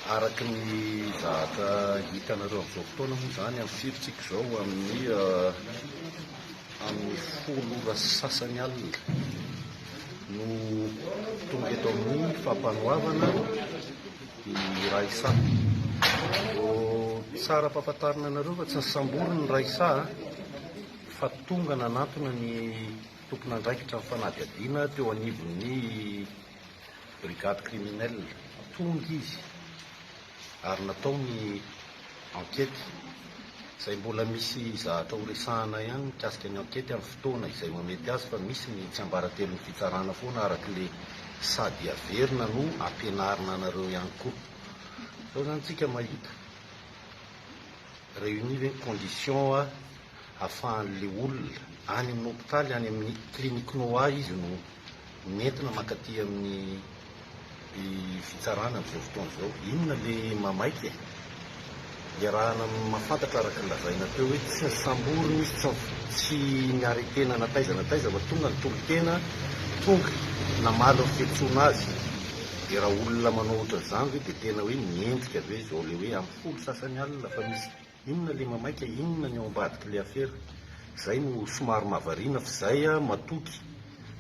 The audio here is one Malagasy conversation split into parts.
Araka ny zavatra hitanareo amin'izao fotoana moa izany amin'ny firintsika izao amin'ny amin'ny folo ora sy sasany alina no tonga eto amin'ny fampanoavana ny Raissa. Vao tsara ampahafantarina anareo fa tsy nisambory ny Raissa fa tonga nanantona ny tompon'andraikitra ny fanadihadiana teo anivon'ny Brigade criminelle tonga izy ary natao ny enquête izay mbola misy zahatra ho resahana ihany mikasika ny enquête amin'ny fotoana izay mamety azy fa misy ny tsiambaratelon'ny fitsarana foana araka le sady averina no ampianarina anareo ihany koa zao zany tsika mahita réunis ve ny conditions afahan'ilay olona any amin'ny hopitaly, any amin'ny clinique Noah izy no nentina mankaty amin'ny fitsarana amin'izao fotoana izao. Inona ilay mahamaika e? Iarahana mahafantatra araka ny lazaina teo hoe tsy nosamborina izy, tsy tsy ni-arrêter-na na taiza na taiza fa tonga nitolo-tena, tonga namaly ny fiantsoana azy. Dia raha olona manao ohatran'izany ve dia tena hoe miendrika ve izao ilay hoe amin'ny folo sasany alina fa misy. Inona le mamaika inona ny ao ambadiky le afera? Zay no somary mahavariana f'zay ah matoky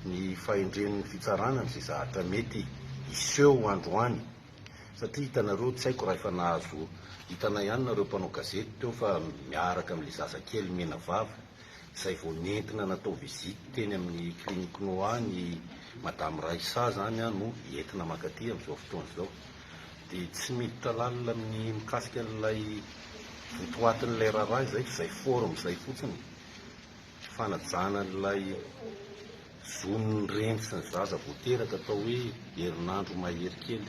ny fahendren'ny fitsarana an'ze zahatra mety hiseho androany satria hitanareo tsy aiko raha efa nahazo hitanay ihany nareo mpanao gazety teo fa miaraka amle zazakely menavava izay vao nentina natao visite teny amin'ny clinic noa ny madame Raissa izany no entina mankaty amin'izao fotoana izao dia tsy miditra lalina amin'ny mikasika an'ilay votoatin'ilay raharaha izay fa izay forme izay fotsiny fanajana an'ilay zon'ny reny sy ny zaza vao teraka atao hoe herinandro mahery kely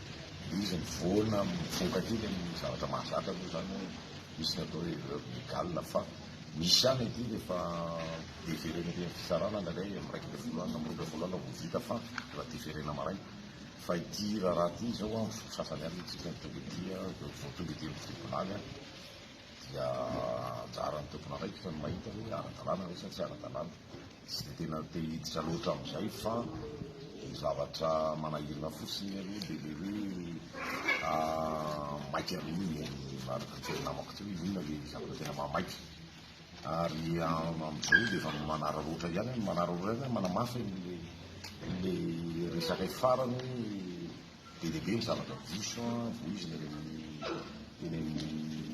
Izy mivoana mivoka aty dia ny zavatra mahazatra aloha izany hoe misy ny atao hoe erreur légale fa misy ihany aty rehefa deferena aty amin'ny fitsarana indraindray amin'ny iraika ambin'ny folo alina, amin'ny roa ambin'ny folo alina vao vita fa mbola deferena maraina. Fa ity raharaha ity izao amin'ny foko sasany ihany tsy tena tonga ety, vao tonga ety amin'ny tribunal dia anjaran'ny tompon'andraikitra ny mahita hoe ara-dalàna ve sa tsy ara-dalàna. Tsy dia tena te hiditra loatra amin'izay fa ny zavatra manahirana fotsiny aloha dia ilay hoe maika be iny e, ary niteny namako teo hoe inona ilay zavatra tena mahamaika. Ary amin'izao izy dia efa manararaotra ihany hoe manararaotra ihany hoe manamafy ilay resaka iny farany hoe be dia be ny zavatra diso voizina eny amin'ny eny amin'ny.